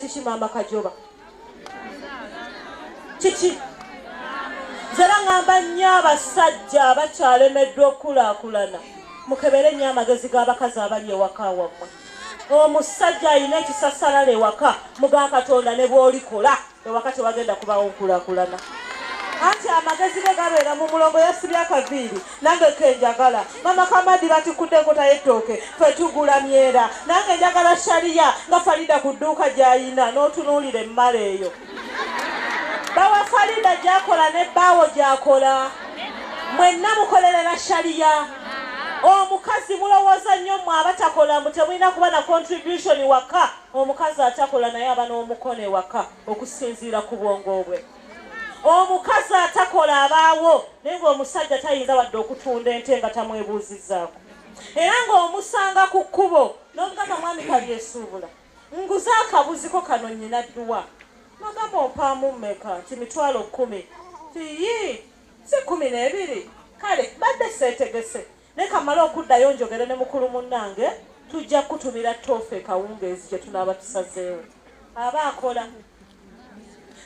kiki maama kajoba kiki zera ngamba nnyo abasajja abakyalemeddwa okukulaakulana mukebere nnyo amagezi g'abakazi abali ewaka wammwe omusajja alina ekisasalala ewaka muga katonda ne bwolikola ewaka tewagenda kubawo nkulakulana anti amagezi ge gabeera mu mulongo yasibya akaviiri nange kenjagala mama kamadi batikudde enkota y'ettooke fe tugula myera nange njagala shariya nga farida ku dduuka gy'ayina n'otunuulira emmala eyo bawa farida gyakola ne bbaawo gyakola mwenna mukolerera shariya omukazi mulowooza nnyo mwe abatakola mbu temulina kuba na contribution waka omukazi atakola naye aba n'omukono ewaka okusinziira ku bwongo bwe omukazi atakola abaawo naye ngaomusajja tayinza wadde okutunda ente nga tamwebuuzizaako era ng'omusanga ku kkubo n'omugamba mwami kalyesuubula nguze akabuziko kano nyina dduwa nagamba ompaamu mmeka nti mitwalo kkumi tiyi si kkumi n'ebiri kale badde seetegese Leka male okuddayo njogere ne mukulu munnange, tujja kukutumira toofe kawungeezi gye tunaaba tusazeewo. Aba akola.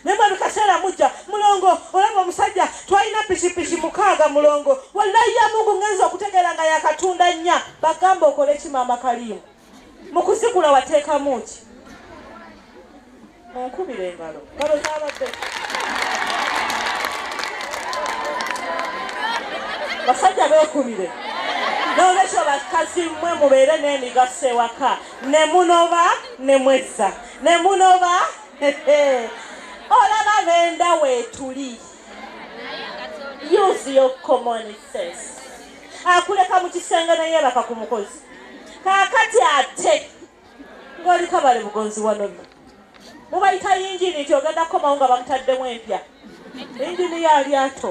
Naye buli kaseera mujja, mulongo, olaba omusajja twalina pikipiki mukaaga mulongo, wallayi ya Mungu ngenze okutegeera nga yakatunda nnya, bagamba okole ki maama Kaliimu? mu kusikula wateekamu ki munkubira engalo ngalo zabadde basajja beekubire n'olwekyo bakazi mmwe mubeere n'emigaso ewaka ne munoba ne mwezza ne munoba olaba benda weetuli use your common sense akuleka mu kisenge ne yeebaka ku mukozi kaakati ate ng'oli kabale bugonzi wanono mubayita yingini nti ogenda kukomawo nga bamutaddemu empya yingini ya lyato